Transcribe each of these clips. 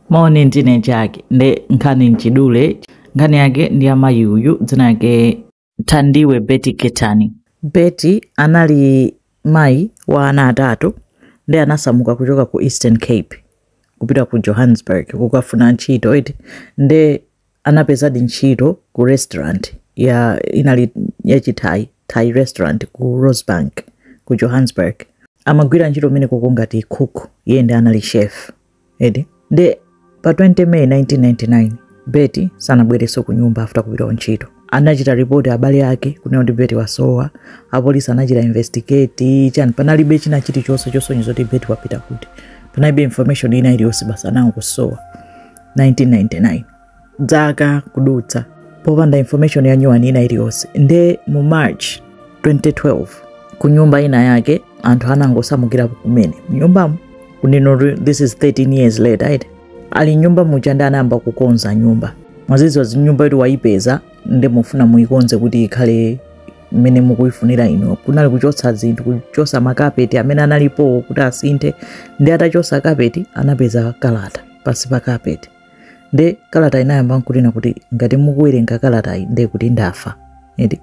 Maone nzinachake nde nkhani nchidule nkhani yake ndi amayi uyu dzina lake Thandiwe Betty Ketani. Betty anali mayi wa ana atatu nde anasamuka kuchoka ku Eastern Cape kupita ku Johannesburg kukafuna ntchito eti nde anapezadi ntchito ku restaurant inali yachithai thai restaurant ku rosebank ku johannesburg amagwira ntchito kumenekoko ngati cook iye nde anali chef eti nde pa 20 May 1999 Betty sanabwerenso ku nyumba after kupita kuntchito anachita ripoti abale ake kunena kuti Betty wasowa apolisi anachita investigate chani panalibe china chilichonse chosonyeza kuti Betty wapita kuti panalibe information ina iliyonse basi anangosowa 1999 dzaka kudutsa popanda information ya nyuwani ina iliyonse nde mu march 2012 ku nyumba inayake anthu anangosamukira kumene mnyumbamo kunino this is 13 years later right? ali nyumba muja nde anayamba kukonza nyumba mwadziwa nyumba yoti wayipeza nde mufuna muyikonze kuti ikhale mmene mukuyifunira inu kunali kuchotsa zinthu kuchotsa makapeti amene analipowo kuti asinthe nde atachotsa kapeti anapeza kalata pansi pa kapeti nde kalata inayamba nkunena kuti ngati mukuwerenga kalatayi nde kuti ndafa eti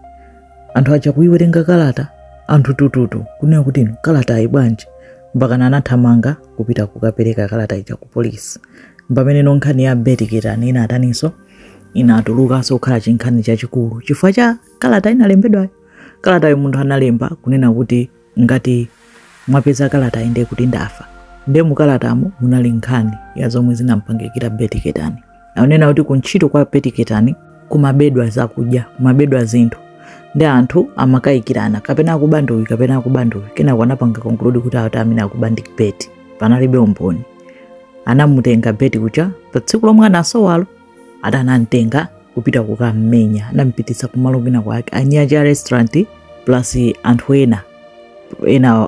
anthu aja kuyiwerenga kalata anthu tututu kunena kuti inu kalatayi bwanji mpakana anathamanga kupita kukapereka kalata ija ku polisi mpamene nkhani ya Betty Ketani inataninso inatulukanso kukhala chinkhani chachikulu chifukwa cha kalata inalembedwayo kalatayo munthu analemba kunena kuti ngati mwapeza kalatayi nde kuti ndafa nde mukalatamo munali nkhani ya zomwe zinampangikira Betty Ketani akunena kuti kuntchito kwa Betty Ketani kumabedwa zakudya kumabedwa zinthu nde anthu amakayikirana kapena akuba ndi uyu kapena akuba ndi uyu kenako anapanga conclude kuti amene akuba ndi Betty panalibe umboni anamutenga Betty uja pa tsiku lomwe anasowalo ati anamtenga kupita kukammenya anampititsa kumalo kwina kwake a manager a restaurant plus anthu ena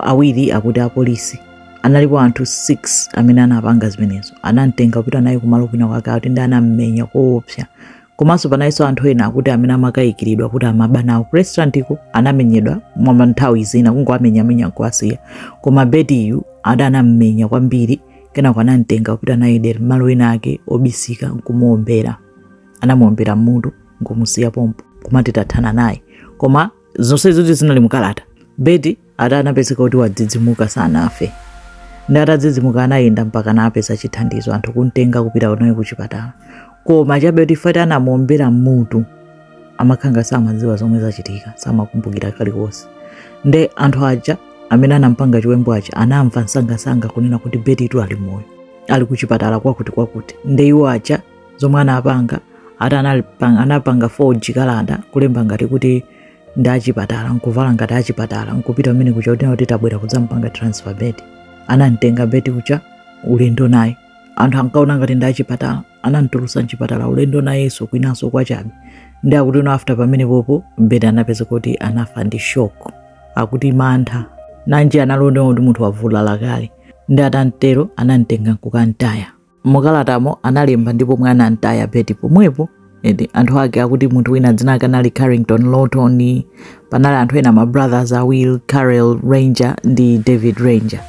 awiri akuti apolisi analipo anthu 6 amene anapanga zimenezo anamtenga kupita naye kumalo kwina kwake akuti nde anammenya koopsa komanso panalinso anthu ena akuti amene amakayikiridwa kuti amaba nawo ku restaurantiko anamenyedwa mwa nthawi zina kungowamenyamenya nkuwasiya koma Bettyyu ati anammenya kwambiri kenako anamtenga kupita naye dera mmalo enaake obisika nkumuombera anamuombera mmutu nkumusiya pompo kumati tathana naye koma zonsezitu zinali mukalata Betty ati anapezeka kuti wadzidzimuka sanafe nde atadzidzimuka anayenda mpaka anapeza chithandizo anthu kumtenga kupita naye kuchipatala koma chabe kuti fati anamuombera mmutu amakhala samadziwa zomwe zachitika samakumbukira kalikonse nde anthu aja amene anampanga chiwembu aja anamva msangasanga kunena kuti Betty tu ali moyo ali kuchipatala kwakuti kwakuti nde iwo aja zomwe anapanga ati anapanga, anapanga forge kalata kulemba ngati kuti ndi achipatala nkuvala ngati achipatala nkupita mmene kucha kuti kuti tabwera kudzampanga transfer Betty anamtenga Betty kucha ulendo naye anthu ankaona ngati ndi achipatala anamtulusa mchipatala ulendo nayenso kwinanso kwachabe nde akuti no after pamenepopo Betty anapeza kuti anafa ndi shock akuti mantha nanji analipo ndiwe kuti munthu wavulala kale nde atatero anamtenga nkukamtaya mukalatamo analemba ndi pomwe anamtaya Betty pomwepo ende anthu ake akuti munthu wina dzina lake anali carrington lawton panali anthu ena ma brothers a will carrel ranger ndi david ranger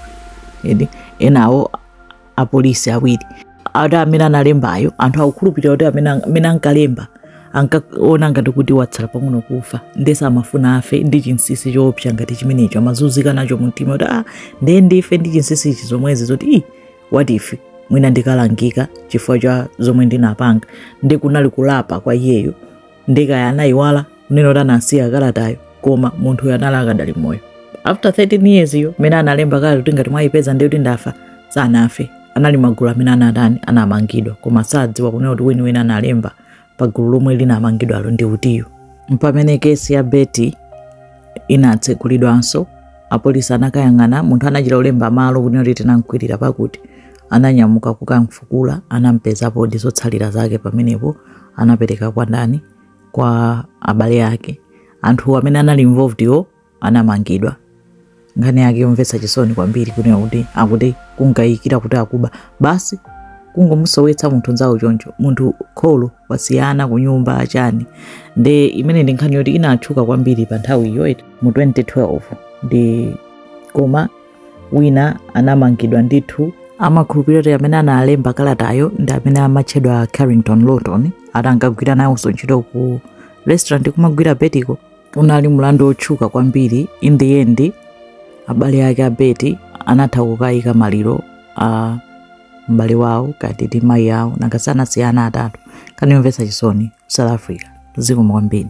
ende enawo apolisi awiri ati amene analembayo anthu akukhulupirira kuti amene ang- amene ankalemba ankaona ngati kuti watsala pang'ono kufa nde samafuna afe ndi chinsinsi choopsa ngati chimenecho amazunzika nacho mumtima kuti ah ndiye ndife ndi chinsinsi ichi zomwezi zoti ii what if mwina ndikalangika chifukwa cha zomwe ndinapanga nde kunali kulapa kwa iyeyo nde kaya anayiwala kunena kuti anasiya kalatayo koma munthuyo anali akadali moyo after 13 years yo mmene analemba kalata kuti ngati mwayipeza ndiye kuti ndafa sanafe anali magulu amene anatani anamangidwa koma sadziwa kunena kuti weniweni analemba pa gulu lomwe linamangidwalo ndi utiyo mpamene case ya Betty inatsegulidwanso apolisi anakayang'ana munthu anachita kulemba malo kunena kuti tinamkwirira pakuti ananyamuka kukamfukula anampezapodi zotsalira zake pamenepo anapereka kwa ndani kwa abale ake anthu amene anali involved yo anamangidwa nkhani yake yomvetsa chisoni kwambiri kunena kuti akuti kunkayikira kuti akuba basi kungomusowetsa munthu mnzawo choncho munthu kholo wasiyana kunyumba achani nde imene ndi nkhani yoti inatchuka kwambiri pa nthawiyo eti mu 2012 nde koma wina anamangidwa ndithu amakhulupirira kuti amene analemba kalatayo ndi amene amatchedwa carrington lawton ati ankagwira nawonso ntchito ku restaurant kumagwira Betty ko unali mlandu wotchuka kwambiri in the end abale ake a Betty anatha kukayika maliro a m'bale wawo kutiti ndi mayi awo nanga si anasiya ana atatu nkhani yomvetsa chisoni ku south africa zikomo kwambiri